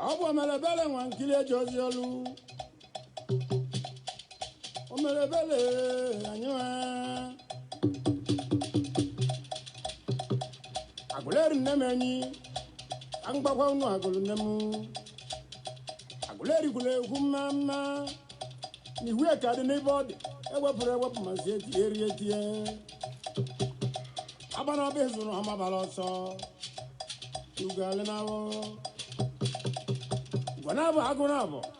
ọ bụ omelebele nwa nkili eje ozi olu omelebele anyị nwa agụleri nne m enyi ka m gbakwa unu agụlụ nne m agụleri gwụrụ egwu mma mma na ihu eke dị n'ebe ọ dị ewepụrụ ewepụ mazi etinye eri etinye agbana ọba ezuru ha mabara ọsọ ugo alịnawụ gwana bụ agụ na abụ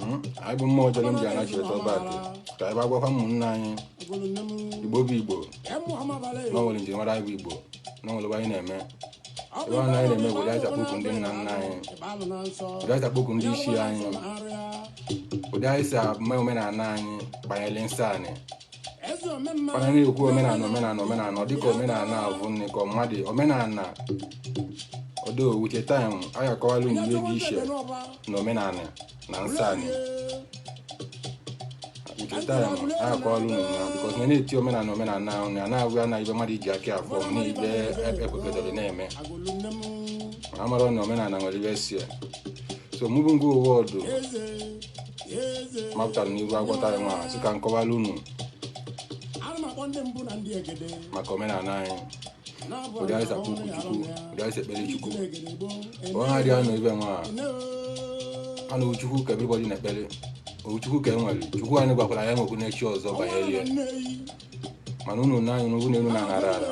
Hmm? anyị bụ mmụọ ọjọọ ndị anachi eto back ka anyị gwakwa ụmụnne anyị igbo bụ igbo na nwere njirimara anyị bụ igbo na nwere anyị na-eme ebe ahụ anyị na-eme were aja kpoku ndị nna nna anyị were aja kpoku ndị isi anyị ụdị anyị si eme omenala anyị banyere nsọ anị mana na-ekwu omenala omenala omenala ọ dịka omenala avụ nne ka mmadụ omenala although with time a ga-akọwalụ unu ihe dị iche na omenala na nsọ anị with time a ya-akọwalụ unu na because na na-eti omenala omenala ahụ na na-agụ ya na ibe mmadụ iji aka afọ m na ibe ekpekọdere na-eme ma amara na omenala nwere ibe si ya so moving forward m pụtara n'iru agwọta ya nwa sị ka m kọwara unu maka omenala anyị chukwu ka e nwere chukwu anyị gwakwara ya nwekwu n'echi ọzọ banyere ya mana unu na anyị n'ugwu n'elu na-anara ala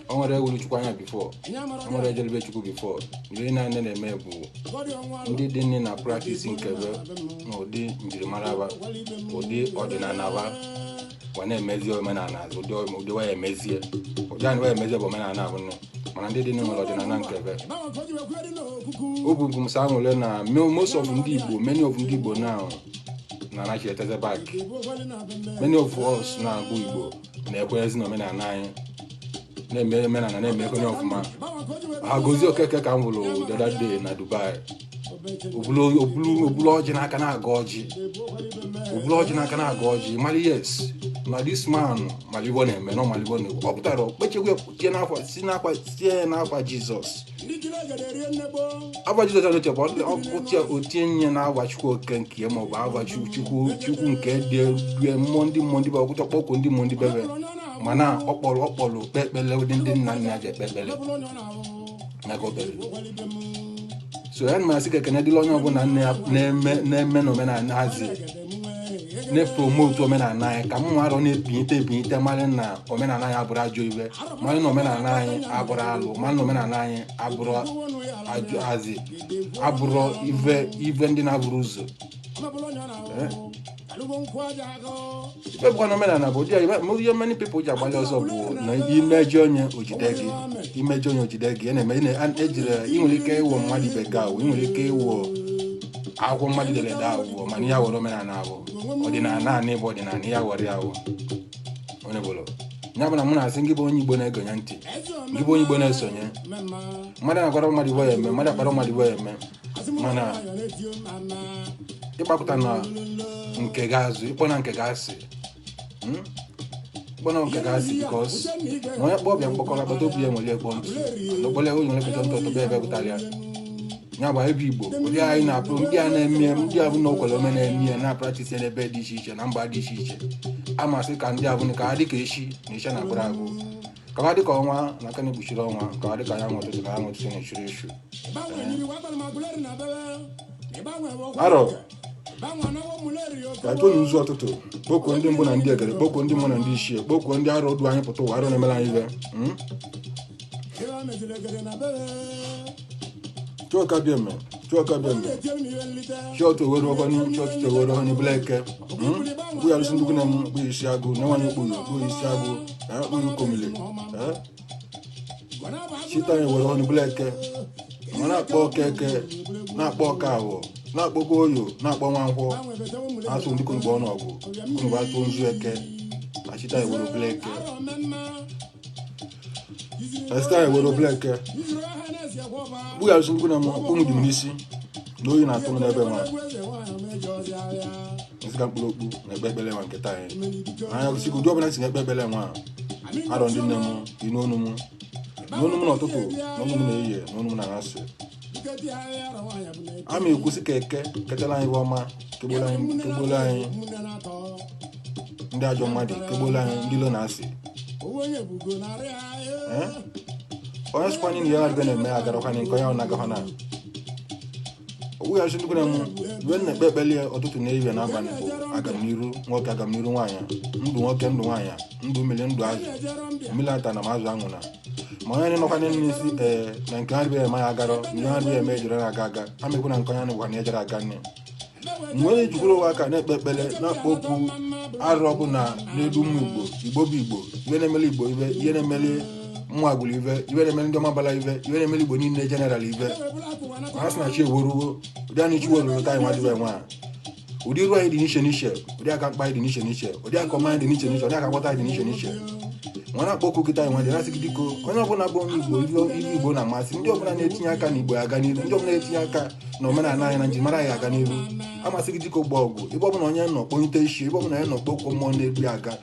o nwere onye hụrụ chukwu anya before o nwere onye jele be chukwu before ihe anyị na-eme bụ ndị dị nne na practice nke be na ụdị njirimara ụdị ọdịnala wa na-emezi omenala azụ ụdị ome- ụdị waya emezie ụdị anyị waya emezie bụ omenala abụ nne mana ndị dị n'ụlọ ọdịnala nke ebe o bụ bụ msa nwere na mo- most of ndị igbo many of ndị igbo now na anaghị eteze back many of us na-abụ igbo na-ekwenyezi na omenala anyị na-eme omenala na-eme onye ọfụma ha gozie okeke ka m hụrụ the other day na dubai o bulu ọjị n'aka na-agọ ọjị o bulu ọjị n'aka na-agọ ọjị mara yes na dis man malị ive ọ na-eme na malị ive ọ na-ekwu ọ pụtara o kpechekwa tie n'ava si n'ava tie n'ava Jizọs ava Jizọs anoche bụ o kpechaa o tienye n'ava Chukwu Okike ya maọbụ ava Chukwu Chukwu nke dị rue mmụọ ndị mmụọ ndị be ọkpụcha ọ kpọkuo ndị mmụọ ndị bebe mana ọkpọrọ ọkpọrọ kpe ekpele ụdị ndị nna nna ji ekpe ekpele maka obere so ya na m asị ka ekene dịlị onye ọbụla nne ya na-eme na-eme n'omenala hazi na-epromotu omenala anyị ka mma arụ na-ebinyite ebinyite mara na omenala anyị abụrụ ajọ ive mara na omenala anyị abụrụ alụ mara na omenala anyị abụrụ ajọ hazi abụrụ ive ive ndị na-avụrụ ụzọ Eh? e bụkwa na omenala bụ ụdị ihe many people ji agbalị ọsọ bụ na i mejọọ nye o jide gị i mejọọ nye o jide gị a na-eme ejire ị nwere ike ịwụ mmadụ ibe gị awụ ị nwere ike ịwụ akwụkwọ mmadụ dere ede awụ bụ mana ya were omenala ahụ ọdịnala naanị bụ ọdịnala ya were ya ahụ onye bụrụ ya bụ na mụ na-asị ngị bụ onye igbo na-egenye ntị ngị bụ onye igbo na-esonye mmadụ na-akwara mmadụ ive ọ ya-eme mmadụ akpara mmadụ ive ọ ya-eme mana ịgbakụtana nke gị azụ ịkpọna nke gị asị hmm? kpọna nke gị asị bikos na onye kpọọ ọba ya mkpọkọrọ agbata obi ya ewere ya kpoo ntụ n'okpole onye were kpota ntụ ọ tọba ebe pụtara ya ya bụ ebe igbo ndị anyị na-apụ ndị a na-eme ndị abụ na okwere ome na-eme ya na-apratisi n'ebe dị iche iche na mba dị iche iche a m asị ka ndị avụ ka ha dị ka echi na echi ana agwụrụ agwụ ka ha dịka ọnwa na aka ana-ekpuchiri ọnwa ka ha dịka anyanwụ ụtụtụ na anyanwụ ụtụtụ na-echuru echu arọ ka tonu ụzọ ụtụtụ kpọkuo ndị mbụ na ndị egede kpọkuo ndị mbụ na ndị ichie kpọkuo ndị arọ du anyị pụta ụwa arọ na-emere anyị ive mm? Chukwu Abịama Chukwu Abịama chọọchị owere ọgọnụ chọọchị chewere ọnụ bụla eke mkpụ ya rụsị ndụgụ na m mkpụ isi agụ na nwanyị mkpụ na mkpụ isi agụ na mkpụ ikomile chịta ya were ọnụ bụla eke ma na-akpọku Eke na-akpọku Awọ na-akpọkwa Oye na-akpọ nwa Nkwọ atụ ndị konugbo ọnụ ọgụ konugbo atụ nzu eke achịta ya were bụla eke chịta ya were obele nke kpụgharịsịrịkwu na ụmụ dị m n'isi na oyi na-atụ m n'ebe nwa m sị ka m kpuru okpu na-ekpe ekpere nwa nke taa anyị anya gosi ụdị ọbụla si na-ekpe ekpere nwa arọ ndị nne m dị n'onu m n'onu m n'ụtụtụ n'onu m n'ehihie n'onu m n'anyasị ama ekwusi ka eke ketara anyị ive ọma kegbolo anyị kegbolo anyị ndị ajọ mmadụ kegbolo anyị ndị ilo na-asị Eh? onye sịkwa anyị na ya adịbe na-eme agarakwa anyị nke onye ọ na-agakwa na oweghachi ndị gwara m mgbe m na-ekpe ekpele ya ụtụtụ na ehihie na abalị bụ agamniru nwoke agamniru nwaanyị ndụ nwoke ndụ nwaanyị ndụ mmiri ndụ azụ mmiri atana ma azụ anwụna ma onye nọkwa n'ime n'isi ee na nke ha dịbe eme ya agarọ ndị ha dịbe eme ejere na-aga aga ha mekwa na nke onye nụkwa na ejere aga nne mgbe onye jikwuru ụwa aka na-ekpe ekpere na-akpọku arụ ọbụna na-edu ụmụ igbo igbo bụ igbo ibe na-emeli igbo ibe ive na-emeli ụmụ agbụrụ ibe ive na-emeli ndị ọmabala ibe ive na-emeli igbo niile general ibe ha sị na chi eweruwo ụdị anyị chi weruru ka anyị nwa dịbe nwa ụdị iru anyị dị n'iche n'iche ụdị aka mkpa anyị dị n'iche n'iche ụdị aka ọma anyị dị n'iche n'iche ụdị aka nghọta anyị dị n'iche n'iche nwa na-akpọku gị taa anyị nwa na-asị gị diko onye ọbụla bụ onye igbo ive igbo na-amasị ndị ọbụla na-etinye aka na igbo aga n'iru ndị ọbụla na-etinye aka na omenala anyị na njirimara anyị aga n'iru a m asị gị diko gbo ọgụ ebe ọbụla onye nọ kpọnite isi ebe ọbụla onye nọ kpọkuo mmụọ na-edu ya aga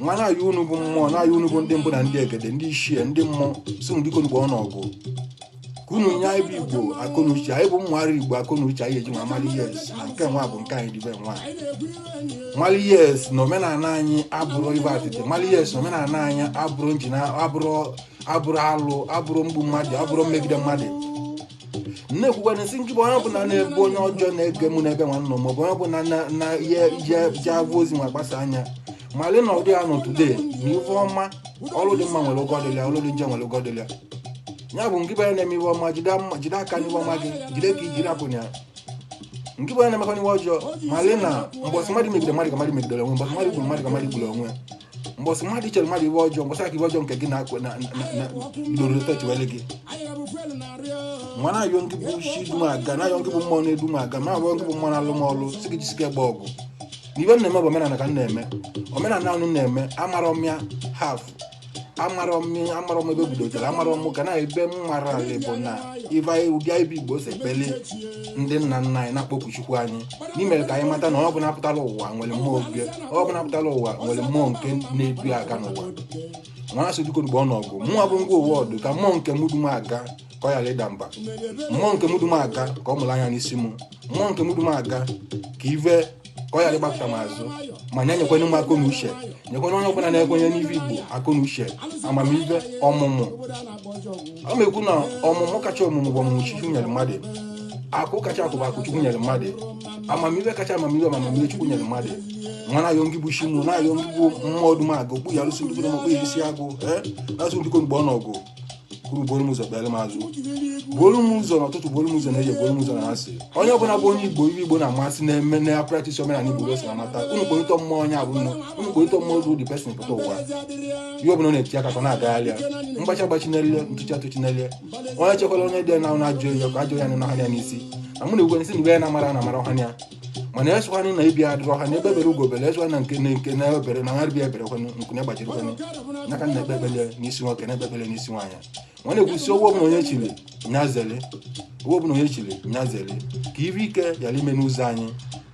nwa na-ayọ unu bụ mmụọ na-ayọ unu bụ ndị mbụ na ndị egede ndị ichie ndị mmụọ sị m dikonụ gboonụ ọgụ ka unu nye anyị bụ igbo akọnuche anyị bụ mmụgharị igbo akọnuche anyị eji nwa mali yes na nke nwa bụ nke anyị dịbe nwa mali yes na omenala anyị abụrọ ive atịtị mali yes na omenala anyị abụrọ njina abụrọ abụrọ alụ abụrọ mgbu mmadụ abụrọ mmegide mmadụ na-ekwukwa na-asị ngị bụ onye ọbụla na-ebu onye ọjọọ na-ege mụ n'ebe nwanne m maọbụ onye ọbụla na- na ihe ihe ji abụ ozi nwa gbasa anya mali na ụdị ya nọ today na ife ọma ọrụ dị mma nwere ụgwọ dịlị ya ọrụ dị njọ nwere ụgwọ dịlị ya ya bụ ngị bụ onye na-eme ife ọma jide mma- jide aka n'ife ọma gị jide ka i ji rapụna ya ngị bụ onye na-emekwanụ ife ọjọọ mali na mbọsị mmadụ megide mmadụ ka mmadụ megidere onwe mbọsị mmadụ gburu mmadụ ka mmadụ gburu onwe ya mbọsị mmadụ chere mmadụ ive ọjọọ mbọsị a ka ive ọjọọ nke gị na-akụ na bidoro tochiwere gị nwa na-ayọ ngị bụ chi du m aga na-ayọ ngị bụ mmụọ na-edu m aga maọbụ ngị bụ mmụọ na-alụ m ọlụ sị gị jisike gba ọgụ na ive m na-eme bụ omenala ka m na-eme omenala a m na-eme amarọ m ya half amarọ m ya amarọ m ebe o bidotara amarọ m kana ive m maara bụ na ive anyị ụdị anyị bụ igbo si ekpele ndị nna nna anyị na-akpọku chukwu anyị n'imere ka anyị mata na ọ bụla pụtara ụwa nwere mmụọ obi ọ bụla pụtara ụwa nwere mmụọ nke na-edu ya aga n'ụwa nwa asị dikonụ gboonụ ọgụ mmụọ bụ ngwa ụwa ọdụ ka mmụọ nke mụ du m aga ka ọ ghara ịda mba mmụọ nke mụ du m aga ka ọ mụrụ anya n'isi m mmụọ nke mụ du m aga ka ive ka ọ ghara ịgbakụta m azụ ma nye nyekwanye m akọ na uche nyekwanye onye ọbụla na-ekwenye n'ive igbo akọ na uche amamive ọmụmụ ọ na-ekwu na ọmụmụ kacha ọmụmụ bụ ọmụmụ chukwu nyere mmadụ akụ kacha akụ bụ akụ chukwu nyere mmadụ amamihe kacha amamihe bụ amamihe chukwu nyere mmadụ mwa na-ayọ ngị bụ chi mụ na-ayọ ngị bụ mmụọ ọdụm agụ okpu ya arụsị ndị igbo n'ọkpụ ya isi agụ ee na-asụ ndịko mgbe ọ n'ọgụ kwuru buru m ụzọ kpere m azụ buru m ụzọ n'ụtụtụ buru m ụzọ n'evie buru m ụzọ n'anyasị onye ọbụla bụ onye igbo ive igbo na-amasị na-eme na ya practice omenala igbo kwesị na mata unu kpọrịtọ mmụọ onye ọ bụ unu kpọrịtọ mmụọ ozu the person pụta ụwa ihe ọbụla na-eti aka ka na-agagharị ya mgbachi agbachi n'elu ntụchi atụchi n'elu onye chekwara onye dị na na ajụ ya ka ajụ ya na ọhanya n'isi na mụ na ugwe n'isi na ugwe ya na-amara na amara ọhanya mana esụkwanụ na ibi adịrị ọha na egbe bere ugo bere esụkwa na nke nke na ebere na ngarịbi ebere kwanụ nku na gbajiri kwanụ n'aka na ekpe ekpele n'isi nwoke na ekpe ekpele n'isi nwaanyị mwa na-ekwusi owo ọbụla onye chiri nya zere owo ọbụla onye chiri nya zere ka ive ike yara ime n'ụzọ anyị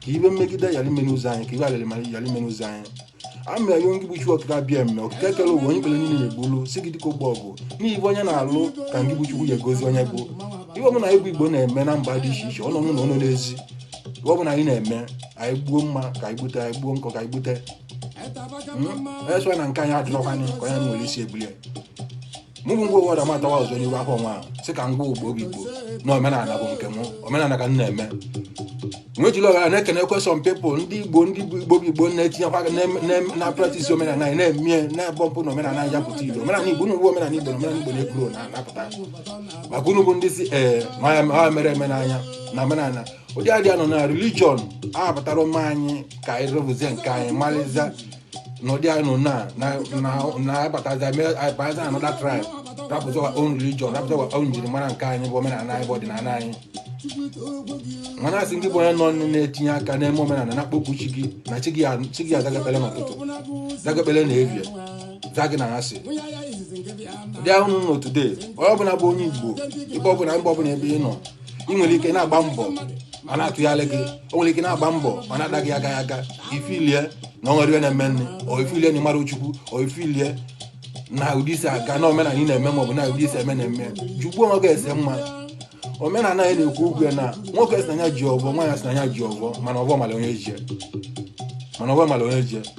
ka ive mmegide yara ime n'ụzọ anyị ka ive alịrị mara yara ime n'ụzọ anyị amịa ya ngị bụ chi okike abịama okike kere ụwa onye ikpere niile na-egbulu sị gị dịka ogbo ọgụ n'ive onye na-alụ ka ngị bụ chukwu ya agọzi onye bụ ihe ọbụla anyị bụ igbo na-eme na mba dị iche iche ọ nọ n'ụlọ ọ nọ n'ezi ihe ọbụla anyị na-eme anyị gbuo mma ka anyị gbute anyị gbuo nkọ ka anyị gbute esụa na nke anyị adịrọkwanye ka onye nwere isi ebulie mụ bụ ngwa ụwa dama atawa ọzọ n'ihu afọ mwa sị ka m gwa igbo bụ igbo na omenala bụ nke m omenala ka m na-eme m wee jiri oghere a na-ekenekwa some people ndị igbo ndị bụ igbo bụ igbo na-etinyekwa aka na- na- na practice omenala anyị na-eme ya na-agba mbọ na omenala anyị ja-apụta igbo omenala igbo unu bụ omenala igbo na omenala igbo na-ekwuru na-apụta maka unu bụ ndị si ee ma ya- ma ya mere eme n'anya na omenala ụdị adị anọ na religion a pụtara ụmụ anyị ka anyị rụzie nke anyị malịza n'ụdị anyị nọ na na na na abatazi eme abatazi another tribe rapụta wa own religion rapụta wa own njirimara nke anyị bụ omenala anyị bụ ọdịnala anyị mana a sị gị bụ onye nọ nne na-etinye aka n'ime omenala na-akpọkwu chi gị na chi gị a- chi gị aza gị ekpele n'ụtụtụ za gị ekpele n'evie za gị n'anyasị ụdị anyị nọ today onye ọbụla bụ onye igbo ebe ọbụla mba ọbụla ebe ị nọ ị nwere ike na-agba mbọ ọ na-atụgharị gị o nwere ike na-agba mbọ ọ na-adaghị aga aga i feelie na o nwere ihe na-eme nne o i feelie na ị mara chukwu o i feelie na ụdị i si aga na omenala ị na-eme maọbụ na ụdị i si eme na-eme jụkwaa onwe gị ese ma omenala anyị na-ekwu okwu ya na nwoke sị na ya ji ọvọ nwaanyị sị na ya ji ọvọ mana ọvọ mara onye ji ya. mana ọvọ mara onye ji ya.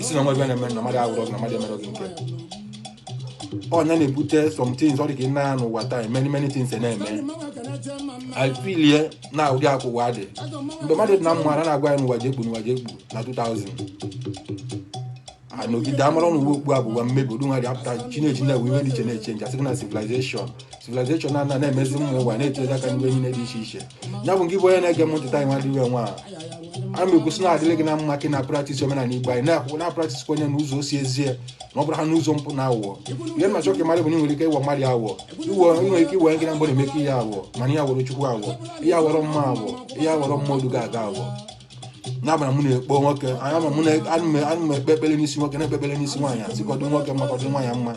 ị sị na o nwe ive na-eme na mmadụ agwọrọ gị na mmadụ emerọ gị nke ọ nya na-ebute some things ọ dị ka ị nọ n'ụwa taa many many things na-eme i feelie na ụdị a ka ụwa dị mgbe mmadụ dị na mma a na-agwa ya na ụwa ja-ekpu na ụwa ja-ekpu na 2000 a nọgide a mara na ụwa ikpu a bụ ụwa mmebi odu nwa dị apụta chinechi na-ewe iwe dị iche na-eche nje a sị gị na civilization civilization a na-emezi ụmụ ụwa na-etinyezi aka n'ihe niile dị iche iche ya bụ ngị bụ onye na-ege m ntị taa nwa dịwe nwa a na-ekwusi na adịrị gị na mma ka ị na practice omenala igbo anyị na-akwụkwọ na practice kwenye na ụzọ osi ezie na ọ bụrụ ha n'ụzọ mpụ na awụwọ ihe m na-achọ ka ị malụ bụ na ị nwere ike ịwọ mmadụ awụwọ iwe nwere ike iwe gị na mgbe na-emeke ihe awụwọ mana ị ya awọrọ chukwu awụwọ ị ya awọrọ mmụọ awụwọ ị ya awọrọ mma oduga aga awụwọ ya mara mụ na-ekpo nwoke anya ma mụ na- ana m- ana m ekpe ekpere n'isi nwoke na-ekpe ekpere n'isi nwaanyị asị ka ọ dụ nwoke mma ka ọ dụ nwaanyị mma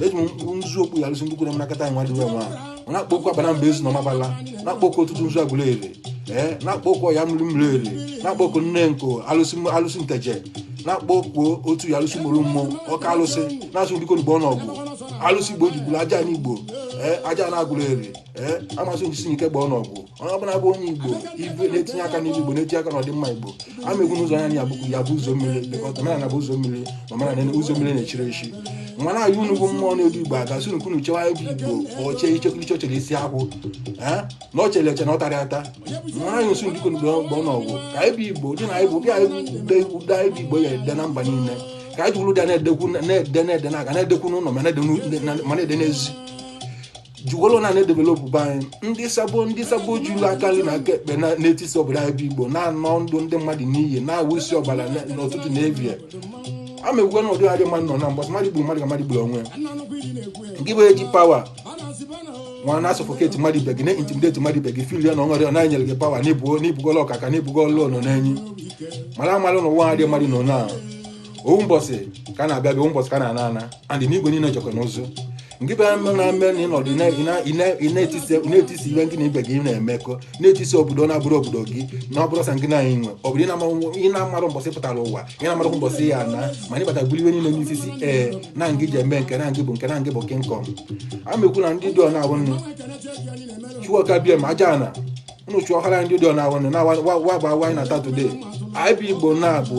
eji m mkpụrụ nzu akpọku alụsị ndị kwere m nakọta anyị nwadịwe nwa ọ na-akpọku abana mba ezu na ọmabala na-akpọku ọtụtụnzu agụleri ee na-akpọku ya mmiri mmiri ere na-akpọku nengo alụsị m- alụsị nteje na-akpọku otu ya alụsị mụrụ mmụọ ọka alụsị na-asụ ndịko n'igbo ọnọgwụ alụsị igbo jigburu ajana igbo ee ajana agụleri ee amasị njisi n'ike gba ọnọgwụ onye ọbụla bụ onye igbo ibe na-etinye aka n'ihe igbo na-etinye aka n'ọdịmma igbo ama egwu n'ụzọ anya ya bụkwu ya bụ ụzọ mmiri lekọta omenala bụ ụzọ mmiri na omenala ụzọ mmiri na-echirọ echi mụwa na-ayọ unu bụ mmụọ na-edu igbo aga asị unu ka unu chewa ebe igbo ọchee ichekwa iche chere isi akwụ na ọ chere eche na ọ tara ata mana anyị nsu ndịko mgbe ọgbọ na ọgwụ ka anyị bụ igbo dị na anyị bụ bịa ụda anyị bụ igbo ya ede na mba niile ka anyị jụrụ dị na-edekwu na-ede na-ede na aga na-edekwu n'ụlọ ma na-ede n'ezi jiwelo na na-edevelopụ be anyị ndị sabo ndị sabo juru aka nri na aka ekpe na- na-etisi obodo anyị bụ igbo na-ana ndụ ndị mmadụ n'iyi na-awụsị ọbara na- n'ụtụtụ na evie a ma ekwukwe na ụdị adị mmadụ nọ na mbọsị mmadụ gburu mmadụ ka mmadụ gburu onwe ya gị bụ e ji power nwa na suffocate mmadụ ibe gị na intimidate mmadụ ibe gị feel ya na o nwere onye nyere gị power na ị bụgo na ị bụgolu ọkaka na ị bụgolu ọnọ n'enyi mara amalụ na ụwa adị mmadụ nọ na ovu mbọsị ka a na-abịa abịa ovu mbọsị ka a na-ana ana anyị n'igwe niile jekọ n'ụzụ ngị bịara mme na mme na ị nọdụ ị na- ị na- ị na- ị na-etisi ị na-etisi ihe gị na ibe gị na-emekọ na-etisi obodo na-abụrọ obodo gị na ọ bụrọ sọ ngị na-anyị nwe ọ bụrụ ị na-amarụ- ị na-amarọ mbọsị ị pụtara ụwa ị na-amarọ mbọsị ị ya-ana mana ị bata buru ihe niile n'isi si ee na ngị ji eme nke na ngị bụ nke na ngị bụ king kong a mekwu na ndị dị ọ na-abụ nnu chukwu abịama aja ana unu chụọ ọhara ndị ụdọ na-awụ na wa bụ awa anyị na-ata today anyị bụ igbo na bụ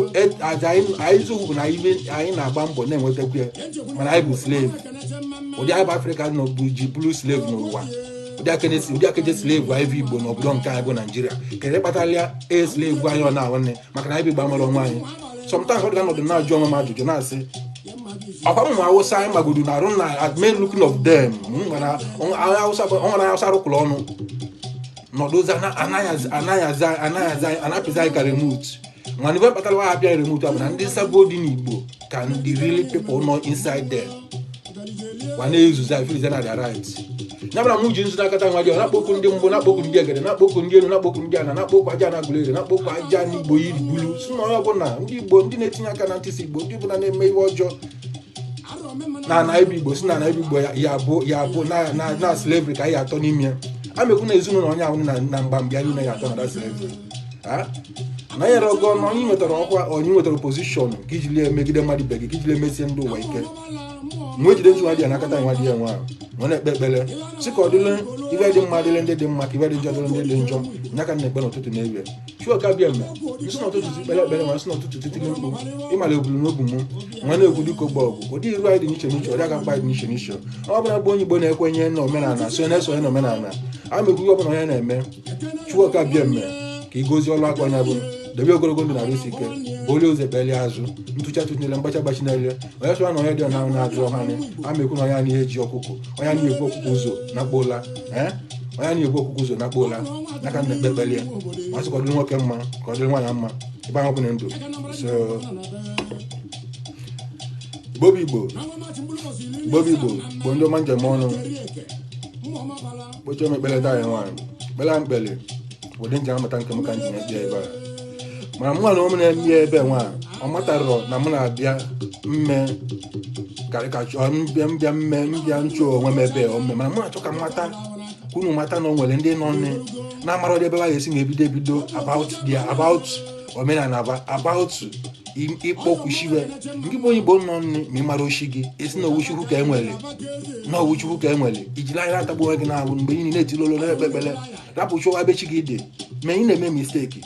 aja anyị zụ bụ na ibe anyị na-agba mbọ na-enwetakwu ya mana anyị bụ slave ụdị anyị bụ afrịka nọ bụ ji bụrụ slave n'ụwa ụdị akeje slave anyị bụ igbo n'obodo nke anyị bụ naijiria kee ihe kpatara ya e slave anyị ọ na-awụ maka na anyị bụ igbo amarọ onwe anyị sometimes adị m anọdụ na-ajụ onwe m ajụjụ na-asị ọkwa ụmụ awụsa anyị magodo na arụ na adị mma looking of them nwere awụsa o nwere awụsa rụkwụrụ ọnụ nọdụzi a na-apịzi anyị ka remote mana ihe kpatara ha apịa remote bụ na ndị sabo dị n'igbo ka ndị really people nọ inside there wa na-ezuzi afilize na their right ya mere m ji nzu n'aka taa nwa ji na-akpọku ndị mbụ na-akpọku ndị egede na-akpọku ndị elu na-akpọku ndị ana na-akpọku aja ana agụleri na-akpọku aja ana igbo yiri bulu sị na onye ọbụla ndị igbo ndị na-etinye aka na ntisa igbo ndị ọbụla na-eme ihe ọjọọ na ana be igbo sị na ana be igbo ya- ya bụ ya bụ na- na na slavery ka anyị atọ n'ime ya ana m ekwu na ezinụlọ onye ahụ na na mgbambi anyị na ya atọ na that slavery na onye nwere ego na onye nwetara ọkwa onye nwetara position ka i jili emegide mmadụ ibe gị ka i jili emesie ndị ụwa ike mgbe e jide nzu nwa dị ya n'aka taa nwa dị ya nwa ma na-ekpe ekpere sị ka ọ dịlị ive dị mma dịlị ndị dị mma ka ive dị njọ dịlị ndị dị njọ nya ka na-ekpe n'ụtụtụ n'ebe chukwu oke abịama m si n'ụtụtụ si kpere ekpere nwa m si n'ụtụtụ titiri mkpu ịmara ebulu n'obu m nwa na-egwu dịka ogbe ọgwụ ụdị iru anyị dị n'iche n'iche ọrịa ga mkpa dị n'iche n'iche ọ bụla bụ onye Igbo na-ekwenye na omenala so na-esonye na omenala ana m ekwu ihe ọbụla onye na-eme chukwu oke abịama ka ị gozie ọrụ aka onye ahụ debe ogologo ndụ na arụ isi ike bu onye ụzọ ekpeli azụ ntụcha tụnyere mgbacha gbachi n'elu onye sụra na onye dị na na-azụ ọha anya ana m ekwu na onye ahụ eji ọkụkọ onye ahụ ebu ọkụkọ ụzọ nakpuo ụla ee onye ahụ ebu ọkụkọ ụzọ nakpuo ụla nya ka m na-ekpe ekpele ya ma sị ka ọ dịrị nwoke mma ka ọ dịrị nwaanyị mma ebe ahụ bụ na ndụ so igbo bụ igbo igbo bụ igbo bụ ndị ọma ndeme nụ kpochie m ekpere taa ya nwa anyị kpere ekpere ụdị m ji amata nke m ka m ji ekpe ebe a mana mụ na ụmụ na-eme ya ebe nwa ọ matarọ na mụ na-abịa mme karịkachọ mbịa mbịa mme mbịa nchụ onwe m ebe ome mana mụ na-achọ ka m mata ka unu mata na o nwere ndị nọ nne na-amarọdị ebe ha ga-esi ebido ebido about their about omenala bụ about ịkpọku chi wa ngị bụ onye igbo nọ nne ma ị marọ chi gị ị sị na ọ wụ chukwu ka e nwere na ọ wụ chukwu ka e nwere i jiri nya atagbu onwe gị n'ahụhụ mgbe ị na-etiri olu na-ekpe ekpere rapụ ịchọwa ebe chi gị dị ma ị na-eme mistake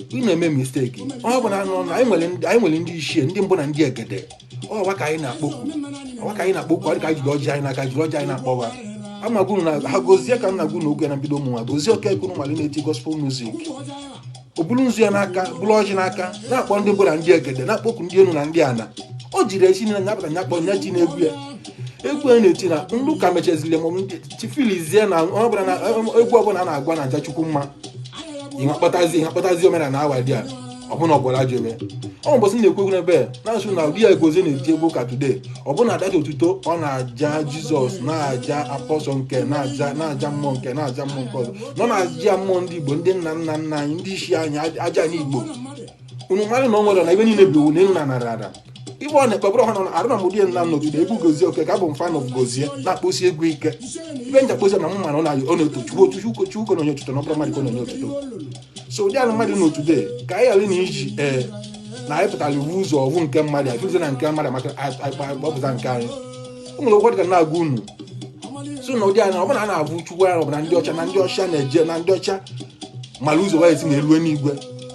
ị na-eme mistake ọ bụ na anụ ọnụ anyị nwere ndị- anyị nwere ndị ichie ndị mbụ na ndị egede ọ wa ka anyị na-akpọku ọ wa ka anyị na-akpọku ọ dị ka anyị jiri ọjị anyị n'aka jiri ọjị anyị na-akpọ wa ana m agwa unu na ha gozie ka m na-agwa unu oge na mbido ụmụnwa gozie okeke unu malị na-eti gospel music o bulu nzu ya n'aka buru ọjị n'aka na-akpọ ndị mbụ na ndị egede na-akpọku ndị elu na ndị ana o jiri esi na nya pụta nya kpọ nya ji n'egwu ya egwu a na-eti na ndị ụka mechaziri ma chifilizie na ọ bụ na egwu ọbụla a na-agụ na-aja chukwu mma ihe kpatazi ihe kpatazi omenala awa dị a ọ bụ na ọ gwọrọ ajọ ive ọ mbọsị na-ekwu egwu n'ebe na-asị na ụdị ya gozie na-eji egwu ụka today ọ bụ na a da aja otuto ọ na-aja jesus na-aja apostle nke na-aja na-aja mmụọ nke na-aja mmụọ nke ọzọ nọ na-aja mmụọ ndị igbo ndị nna nna nna anyị ndị ichie anyị aja ana igbo unu malị na o nwere na ebe niile bụ iwu na enu na ana ada ife ọ na-ekpebụrụ ọha na arụ na mụdị na nọgide egwu gozie oke ka abụ mfa na gozie na-akpụsi egwu ike ibe nja kpozi na mma na ọ na- ọ na-eto chukwu otu chukwu chukwu na-enye otuto na ọ bụrọ mmadụ ka ọ na-enye otuto so ụdị ala mmadụ n'otu dee ka anyị ghara na iji ee na anyị pụtara iwu ụzọ ọgwụ nke mmadụ anyị fụzi na nke mmadụ maka akpọpụta nke anyị o nwere ụfọdụ ka na-agwa unu so na ụdị anya ọbụla a na-abụ chukwu anya ọbụla ndị ọcha na ndị ọcha na-eje na ndị ọcha mara ụzọ wa ya-esi na elu eluigwe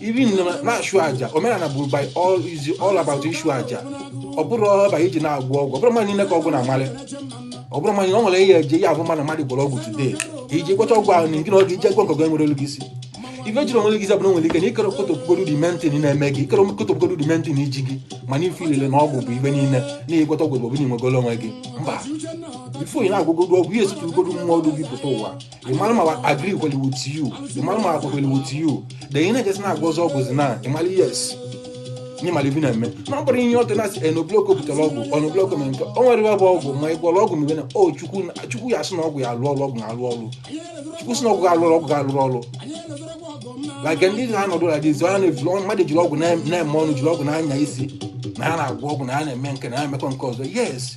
even na-achụ aja omenala bụ by all is all about ịchụ aja ọ bụrọ about ije na-agwọ ọgwụ ọ bụrọ mmadụ niile ka ọgwụ na-amalị ọ bụrụ mmadụ na ọ nwere ihe eje ya abụ mmadụ mmadụ gwọrọ ọgwụ today ka iji gwọcha ọgwụ ahụ na nke na ọ ga-eje agwọ nke ọzọ enwere olu gị isi ife jiri onwe gị zabụrụ nwere ike na ịkere kotopụgodu the main thing na-eme gị ịkere kotopụgodu the main thing ji gị mana ife ilele na ọgwụ bụ ife niile na ịgwọta ọgwụ bụ ọbụla inwegolo onwe gị mba before ị na-agwọgodu ọgwụ ihe esotugodu mmụọ ọdụ gị pụta ụwa ị mara ma agree kwere with you ị mara ma akwa kwere with you then ị na-ejezi na-agwọzi ọgwụzi na ị mara yes na ị mara ive ị na-eme na ọ bụrọ ihe ọtụ na-asị enobloko butere ọgwụ ọnobloko mere nke o nwere ebe ọgwụ ma ị gwọrọ ọgwụ mgbe na o chukwu chukwu ya sị na ọgwụ ya-alụ ọrụ ọgwụ na-alụ ọrụ chukwu sị na ọgwụ ga-alụ ọrụ ọgwụ ga-alụ ọrụ like ndị ha nọdụ na dizi ha na-ejiri ọnụ mmadụ jiri ọgwụ na-eme ọnụ jiri ọgwụ na-anya isi na ha na-agwọ ọgwụ na ha na-eme nke na ha emekọ nke ọzọ yes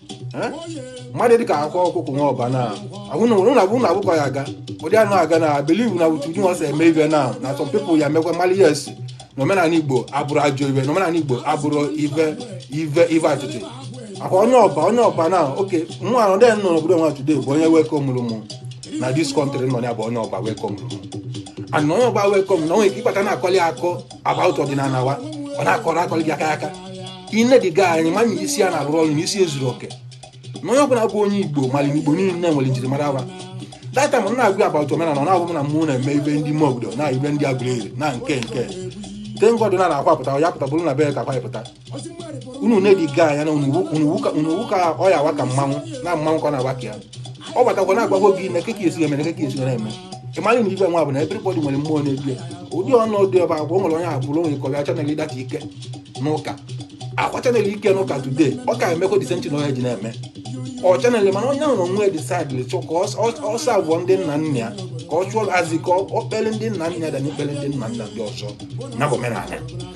mmadụ dịka akwa ọkụkọ nwa ọba na ahụnabụ na abụkwa ya aga ụdị anụ aga na believe na wutu nwa sị eme ive na na some people ya mekwa mali yes na omenala igbo abụrọ ajọ ive na omenala igbo abụrọ ive ive ive ọchịchị akwa onye ọba onye ọba na oke nwa anọ dị nọ n'obodo nwa today bụ onye welcomeụrụ mụ na this country nọ ya bụ onye ọba welcomeụrụ mụ and onye ọba welcome mụ na onwe ike ịkpata na-akọli akọ about ọdịnala wa ọ na-akọrọ akọrọ gị aka aka i nedi ya anya ị ma na isi ya na-arụ ọrụ na isi ya zuru oke na onye ọbụla bụ onye igbo mara igbo niile nwere njirimara wa that time m na-agwa ya about omenala ọ na-agwa m na mụ na-eme ive ndị ime obodo na ive ndị aguleri na nke nke thank god na na-akwapụta ya pụta bụrụ na be ya ka akwapụta unu na-enedi ya anya na unuwu ka ọ ya awa ka mmanwụ na mmanwụ ka ọ na-agba ka ya ọ batakwa na-agwagwo gị na keke esi emere keke esi na-eme ị mara na ive nwa bụ na everybody nwere mmụọ na-ebi ụdị ọnụ ụdị ọba agwa o nwere onye abụrụ onwe ka ọ bịa channel that ike n'ụka akwa channel ike n'ụka today ọ ka emekwa the same thing na onye ji na-eme ọ channel mana onye ahụ na onwe decideịrị chọ ka ọsọ abụọ ndị nna nna ya ka ọ chụọ azị ka ọ kpere ndị nna nna ya da na ikpere ndị nna nna ndị ọzọ na bụ omenala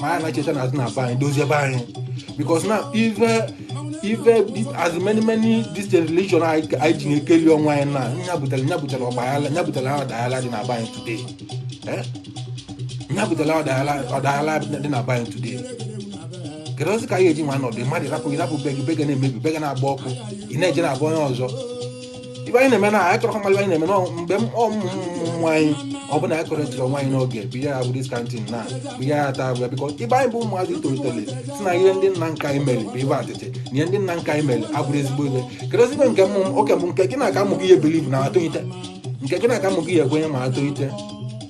ma anyị na-echeta na azụ na be anyị dozie be anyị because na even even as many many this religion anyị ji na-ekeli onwe anyị na nya butere nya butere ọgbaghara nya butere ọdaghara dị na be anyị today eh? nya butere ọdaghara dị na be anyị today keduzi ka anyị eji nwa nọdụ mmadụ rapụ rapụ be gị be gị a na-emebi be gị a na-agba ọkụ ị na-eje na be onye ọzọ ive anyị na-eme na anyị chọrọ mmadụ anyị na-eme na ọ- mgbe m- ọmụmụ ụmụ anyị ọ bụla anyị kọrọ ejiri nwaanyị n'oge bụ ihe ya bụ this kind thing na bụ ihe ya taa abụla because ibe anyị bụ ụmụazị tolitere sị na ihe ndị nna nna anyị mere bụ ive atịtị na ihe ndị nna nna anyị mere abụrọ ezigbo ihe kedu ezigbo nke mmụ oke bụ nke gị na-aka amụghị ihe believe na atụghịte nke gị na-aka amụghị ihe ekwenye ma atụghịte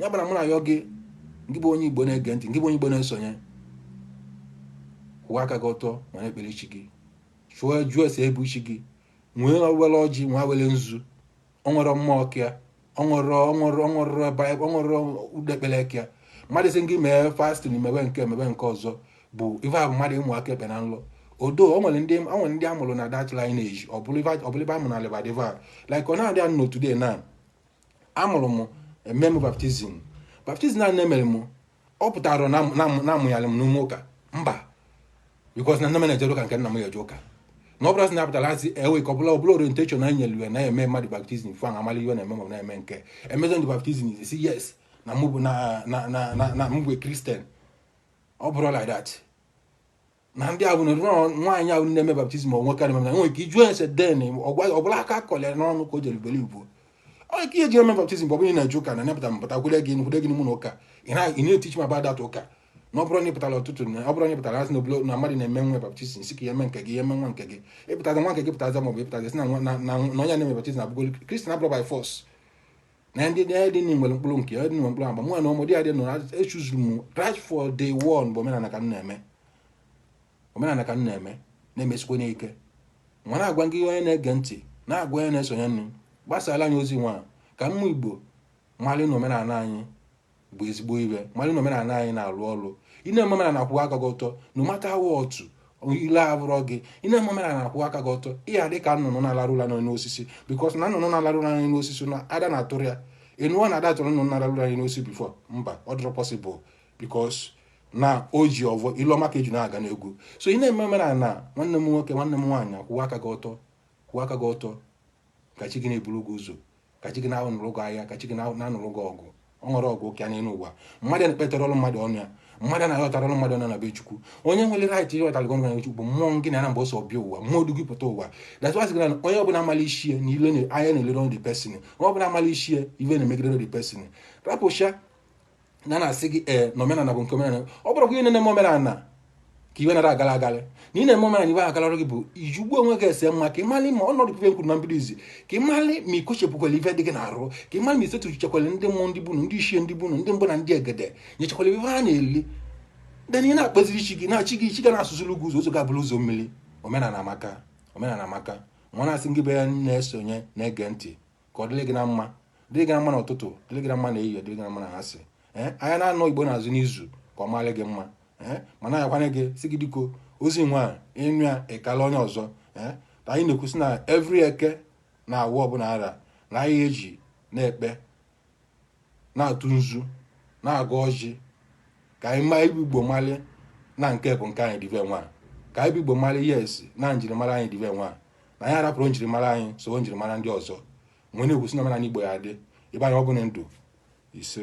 ya gbara mụ na ya gị ngị bụ onye igbo na-ege ntị ngị bụ onye igbo na-esonye kwụwa aka gị ọtọ ma na-ekpere chi gị chụọ jụọ ese ebu chi gị nwee were ọjị nwa were nzu ọ nwere mmụọ ọkịa ọ nwere ọ nwere ọ nwere ọ nwere ụdị ekpere ekịa mmadụ sị gị mee fasting mewe nke mewe nke ọzọ bụ ife ahụ mmadụ ịmụ aka ekpe na nlọ odo o nwere ndị o nwere ndị a mụrụ na that lineage ọ bụrụ ife a mụrụ na lebadiva like ọ na-adị anụ today na amụrụ m eme m baptism baptism a na-emere m ọ pụtarọ na amụnyalị m n'ime ụka mba because na nne m na-ejere ụka nke nna m ga-eje ụka na ọ bụrọ sị na apụtara asị ewe ka ọ bụla ọbụla orientation anyị nyere ya na eme mmadụ baptism fụ ahụ amala ihe na-eme ma na-eme nke emezi ndị baptism sị yes na mụ bụ na na na na mụ bụ christian ọ bụrọ like that na ndị ahụ nwaanyị ahụ na-eme baptism onwe karị mana nwere ike ịjụ ese then ọbụla aka kọlịa n'ọnụ ka o jere beli ugbo onye ka ihe ji eme baptism bụ ọ bụrụ na ị na-eje ụka na nepụta mpụta kwere gị nkwere gị n'ụlọ ụka ị na-etichi ma bada atụ ụka na ọ bụrụ na ịpụtara ọtụtụ na ọ bụrụ na ịpụtara asị n'obodo na mmadụ na-eme nwa baptism sị ka ya eme nke gị ya eme nwa nke gị ịpụtaza nwa nke gị pụtaza ma ọ bụ ịpụtaza sị na onye na-eme baptism abụgolu christian ọ bụrọ by force na ndị dị na nwere mkpụrụ nke dị nwere mkpụrụ agba mụ na ụmụ dị adị nọ echuzuru m right for day one bụ omenala ka m na-eme omenala ka m na-eme na-emesikwa n'ike nwa na-agwa gị onye na-ege ntị na-agwa onye na-esonye unu gbasara anyị ozi nwa ka ụmụ igbo malị na omenala anyị bụ ezigbo ive malị na omenala anyị na-alụ ọrụ ị na-eme omenala akwụwa aka gị ọtọ no matter what otu ile abụrọ gị ị na-eme omenala akwụwa aka gị ọtọ ị ya-adị ka nnụnụ na-alarụ ụla n'elu osisi because na nnụnụ na-alarụ ụla n'elu osisi na ada na-atụrụ ya ị nụwo na ada atụrụ nnụnụ na-alarụ ụla n'elu osisi before mba ọ dịrọ possible because na o ji ọvọ ile ọma ka eji na-aga n'ogwu so ị na-eme omenala nwanne m nwoke nwanne m nwaanyị akwụwa aka gị ọtọ kwụwa aka gị ọtọ ka chi gị na-eburu gị ụzọ ka chi gị na-anụrụ gị aya ka chi gị na-anụrụ gị ọgụ ọ nwerọ ọgụ ka ya n'elu ụwa mmadụ na-ekpetara ọrụ mmadụ ọnụ ya mmadụ na-aghọtara ọrụ mmadụ ọnụ na be chukwu onye nwere right ịghọtara gị ọnụ na chukwu bụ mmụọ gị na ya na mgbe o so bịa ụwa mmụọ du gị pụta ụwa that's why sịgara onye ọbụla amala ishie na ile anya na-elere ọrụ the person onye ọbụla amala ishi ive na-emegidere the person rapụcha na na-asị gị ee eh, na omenala bụ nke omenala ọ bụrụ gị na-eme omenala ka iwe nara agala agalị na ị na-eme omenala iwe agalara gị bụ iji ugbu onwe gị ese mma ka ịmalị ma ọnọdụ ife m kwuru na mbido izi ka ịmalị ma ikochepụkwala ife dị gị n'arụ ka ịmalị ma isetu chekwala ndị mmụọ ndị bụnụ ndị ichie ndị bụnụ ndị mbụ na ndị egede nyechekwala ife ha na-eli then ị na-akpaziri chi gị na chi gị chi ga na-asụziri gị ụzọ ụzọ ga-abụrụ ụzọ mmiri omenala amaka omenala amaka nwa na-asị gị bịa na-esonye na-ege ntị ka ọ dịrị gị na mma dịrị gị na mma n'ụtụtụ dịrị gị na mma na ehihie dịrị gị na mma na anyasị ee ahịa naanọ igbo na-azụ n'izu ka ọ mara gị mma ee mana ayọkwa m gị sị gị biko ozi nwa ịnụ ya ịkala onye ọzọ ee ka anyị na-ekwusị na every eke na awọ ọbụla ara na anyị eji na-ekpe na-atụ nzu na-agọ ọjị ka anyị nwa bụ igbo mali na nke bụ nke anyị dị ive nwa ka anyị bụ igbo mali yes na njirimara anyị dị ive nwa na anyị arapụrụ njirimara anyị so njirimara ndị ọzọ wee na-ekwusi na omenala igbo ya adị ibe anyị ọ bụlụ ndụ ise